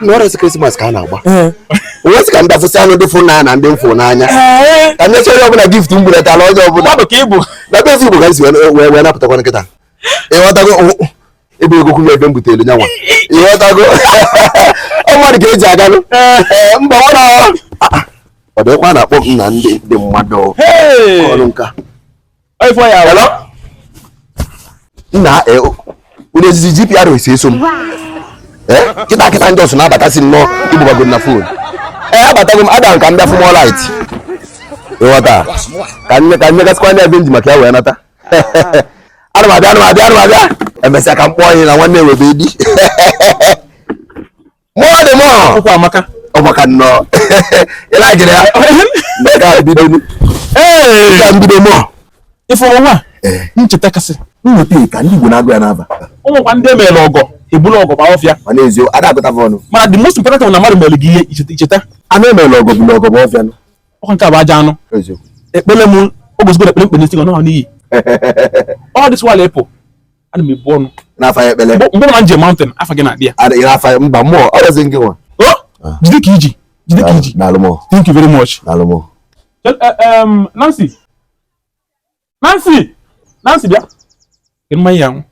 no rest krismas ka a na-agba wee sị ka m da fụsịanụ ndị fụ m n'anya na ndị m fụ n'anya ka m nyesị onye ọbụla gift m buletara onye ọbụla mmadụ ka ịbụ na be eze igbo ka m si wee- wee wee napụtakwa kịta ịghọtago o- ebe ego kwuru ebe m butere nyanwa ịghọtago ọ mmadụ ka eji aganụ Ee, mba ọ na ọ dịkwa na-akpọ m na ndị ndị mmadụ ọrụ nka Ifo ya. Hello. Nna e unu ejizi GPRS eso m. Eh, kịta kịta m just na-abatasị nnọọ ị kpọbago m na fon. Ee, abatago m aga m ka m bịa fụ More Light. Ịghọta ka m ne ka m negasịkwa ndị ebe m ji maka ya wee nata. Ana m abịa ana m abịa ana m abịa. Emesịa ka m kpọọ anyị na nwanne webe di. More the more. Akwụkwọ amaka. Ọ maka nnọọ. Ị na-agịrị ya. Maka mbido. Ee. Ka m bido More. Ịfụrụ nwa? Eh. Ncheta kasị. Ncheta ka ndị Igbo na-agụ ya n'afa. O nwekwa ndị emeela ọgọ ebulu ọgọ gbaa ọfịa. Mana ezie ada agụta fa ọnụ. Mana the most important na mmadụ mere gị ihe i cheta. A na-emela ọgọ bulu ọgọ baa ọfịa nụ. Ọkwa nke a bụ aja anụ. Ekpele m o gosigo na ekpele m kpe n'isi gị ọ nọ n'iyi. All this while ịpụ. ana m ebu ọnụ n'afa ya ekpele mgbe m na-eje mountain afa gị na-adị ya adịghị n'afa ya mba More ọ rezi nke nwa ah. jide ka iji jide ka iji thank you very much eh, eh, Nancy Nancy Nancy bịa mmanya ya nwụ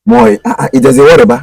More ah, ah, ijezi wọrịba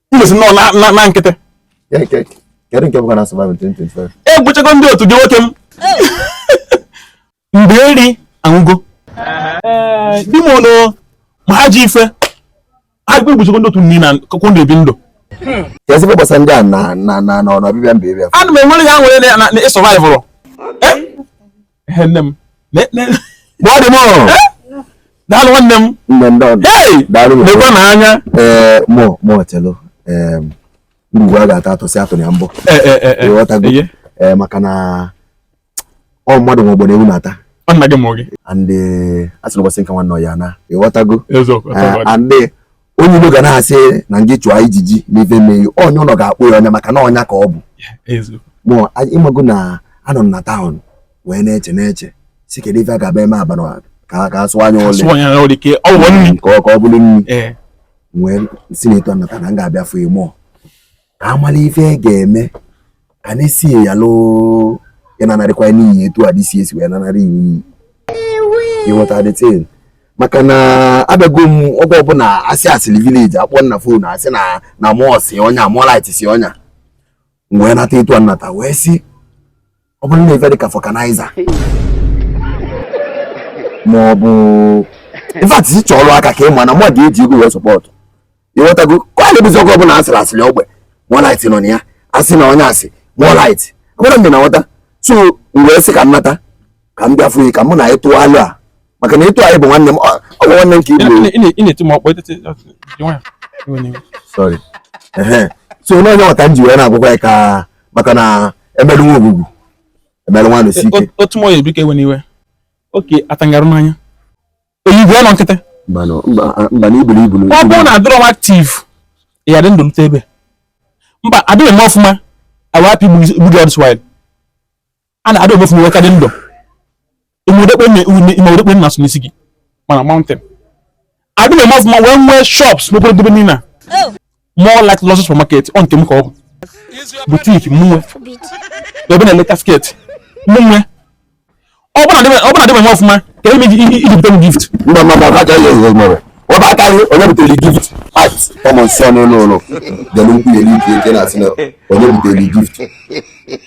igbosi nọ na nkịtị egwuchago ndị otu gị nwoke m mgbe eri anwụgo di m ono ma ha ji ife ha egbuchago ndị otu niile na kụkwụ ndị ebi ndụ ezigbo gbasa ndị a na na na ọbịbịa mba ebe ana m enwere ha nwere na ị sọvaịvụrụ nne m More the More daalụ nwanne m nekwa na anya More More chelu ngwu a ga-ata ata sị atụna ya mbọ ịghọtago maka na ọ mmadụ nwe ọgbụ ewu na-ata nna gị mụ gị and asị na ụbọchị nke nwanne ya na ịghọtago and onye ilo ga na-asị na gị chụọ ijiji ma ife mee gị onye ụlọ ga-akpọ ya ọnya maka na ọnya ka ọ bụ mụ ịmago na anọ m na taụn wee na-eche na-eche sị kedu ife a ga-aba eme abala ka a sụọ anya ole ka ọ bụrụ nri wee sị na etu m nata na m ga-abịa fụ More ka a mara ife e ga-eme ka a na-esi ya lụ ị nanarịkwa n'iyi etu a dịsi esi wee nanarị n'iyi ịghọta dịtin maka na abịago m oge ọbụla asị asịrị village akpọ m na fon asị na na More si ọnya More Light si ọnya wee nata etu a nata wee si ọ bụrụ na ife dị ka vulcanizer ma ọ bụ in fact si chọọ ọrụ aka ka ị ma na mmadụ eji ego wee support ịghọtago ka ọ na-ebuzi ọgụ ọbụla asịrị asịrị ogbe moonlight nọ na ya asị na onye asị moonlight agbara m na nghọta so wee sị ka m nata ka m bịa fụ ka mụ na ịtụ alụ a maka na ịtụ anyị bụ nwanne m ọ bụ nwanne m ka igbo so n'onye nwata m ji wee na-agwụkwa ya ka maka na emelu nwa ogwugwu emelu nwa anọsi ike otu mọ ya ebike ewe n'iwe oke atangarụ n'anya oyibo ọnọ nkịtị mba na iburu ibu ọ bụrụ na adịrọ m active ya dị ndụ lute ebe mba adịghị m ọfụma awapị gbugị all this while a na-adị m ọfụma wee ka dị ndụ imodekpe nna so n'isi gị mana mountain adị m eme ọfụma wee nwee shops n'okporo dobe niile a oh. more like lọsọ supermarket ọ nke m ka ọ bụ boutique mụ nwe ebe na-eleta skirt mụ nwe ọ bụla dị m eme ọfụma ka eme iji bute m gift mba mba mba aka ihe ihe mere ọ bụ aka ihe onye butere gift at ọmụ nsọ n'ụlọ ụlọ dere nkwunye n'ike nke na-asị na onye butere gift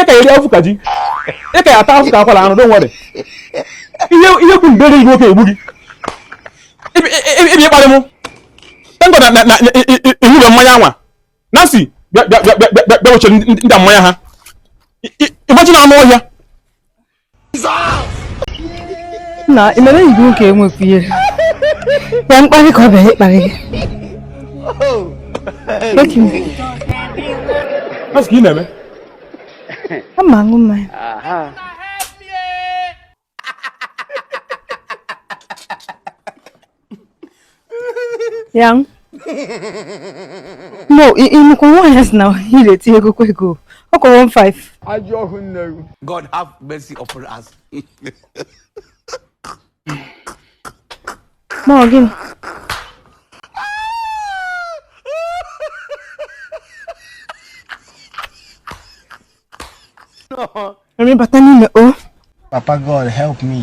ị ka eri afụ ka ji ị ka ya ata afụ ka akwara anụ don't worry ihe ihe kwu mbe enyi nwoke egbu gị ị bịa ịkparị m thank God na ị ṅụrụ mmanya anwa nancy bịa bịa bịa bịa bịa wechere ndị mmanya ha imagine anụ ọhịa na i mere enyi gị nwoke enwekwu ihe ya mkparị ka ọ bịara ịkparị gị Nancy ka ị na-eme? Ama aṅụ mmanya. ya no ị nụkwa nwaanyị a sị na ị na-eti ego kwa ego ọ kọrọ 15 ajọ ọhụ nne gị God have mercy upon us. ma ọ gịnị Remi bata n'ime o Papa God help me.